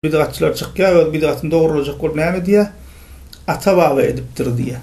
Bidgatçylar çykýar we bidgatyny dogralajak bolup näme diýýär? Ata-baba edipdir diýýär.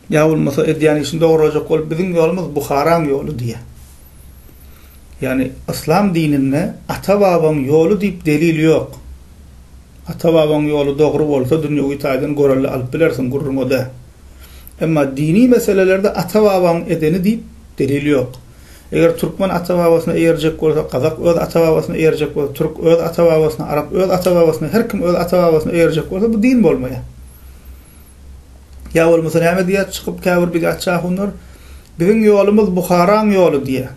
Ýa bolmasa edýän işini dogralajak bolup biziň ýolumyz Buharaň ýoly diýýär. Ýagny yslam dininde ata-babaň ýoly diýip delil ýok. Ata-babaň ýoly dogry bolsa dünýewi taýdan görelde alyp bilersiň, gürrüň o däl. Emma dini meselelerde ata-babaň edeni diýip delil ýok. Eger türkmen ata-babasyna eýerjek bolsa, gazak öz ata-babasyna eýerjek bolsa, türk öz ata-babasyna, arap öz ata-babasyna, her kim öz ata-babasyna eýerjek bolsa, bu din bolmaýar. Ýa bolmasa näme diýýär çykyp käbir bid'atçy ahunlar? Biziň ýolumyz Buharaň ýoly diýýär.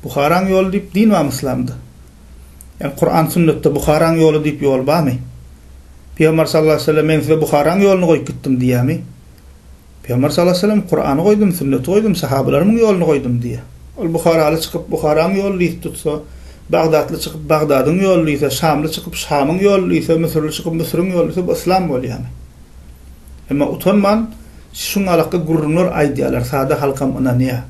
Buharaň ýoly diýip din barmy yslamda? Ýani Kuran sünnetde Buharaň ýoly diýip ýol barmy? Pygamber sallallahu aleyhi ve sellem men size Buharaň ýoluny goýup gitdim diýýärmi? Pygamber sallallahu aleýhi we sellem, Kurany goýdum, sünneti goýdum, sahabalarymyň ýoluny goýdum diýýär. Ol buharaly çykyp Buharaň ýoluny ýiti tutsa, bagdatly çykyp Bagdadyň ýoluny ýüse, şamly çykyp Şamyň ýoluny ýüse, müsürli çykyp Müsüriň ýoluny ýüse, bu yslam bolýamy? Emma utanman şuňalykda gürrüňler aýdýarlar, sada halkam ynanýar.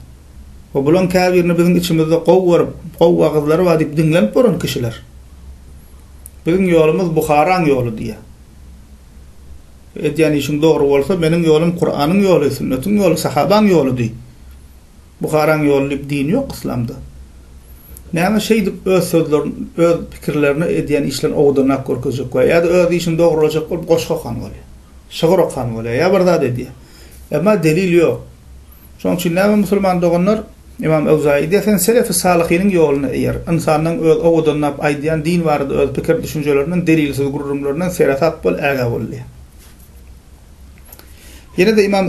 We bulaň käbirini biziň içimizde gowy görüp, gowy wagyzlary bar diýip diňlenip bolan kişiler. Biziň ýolumyz Buharaň ýoly diýýär. Edýän işiň dogry bolsa, meniň ýolum Kuranyň ýoly, sünnetiň ýoly, sahabaň ýoludy. Buharaň ýoly diýip din ýok yslamda. Näme şeýdip öz sözlerini, öz pikirlerini edýän işlerini owadanrak görkezjek bolýar. Ýa-da öz işini dogrulajak bolup goşgy okan bolýar. Şygyr okan bolýar. Ýa bir zat edýär. Emma delil ýok. Şonuň üçin näme musulman doganlar, Ymam Awzaýy diýýär, sen selefi salyhynyň ýoluna eýer, ynsanlaryň öz owadanlap aýdýan din barada öz pikir-düşünjelerinden, delilsiz gürrüňlerinden seresap bol, ägä bol diýýär. Ýene-de Ymam.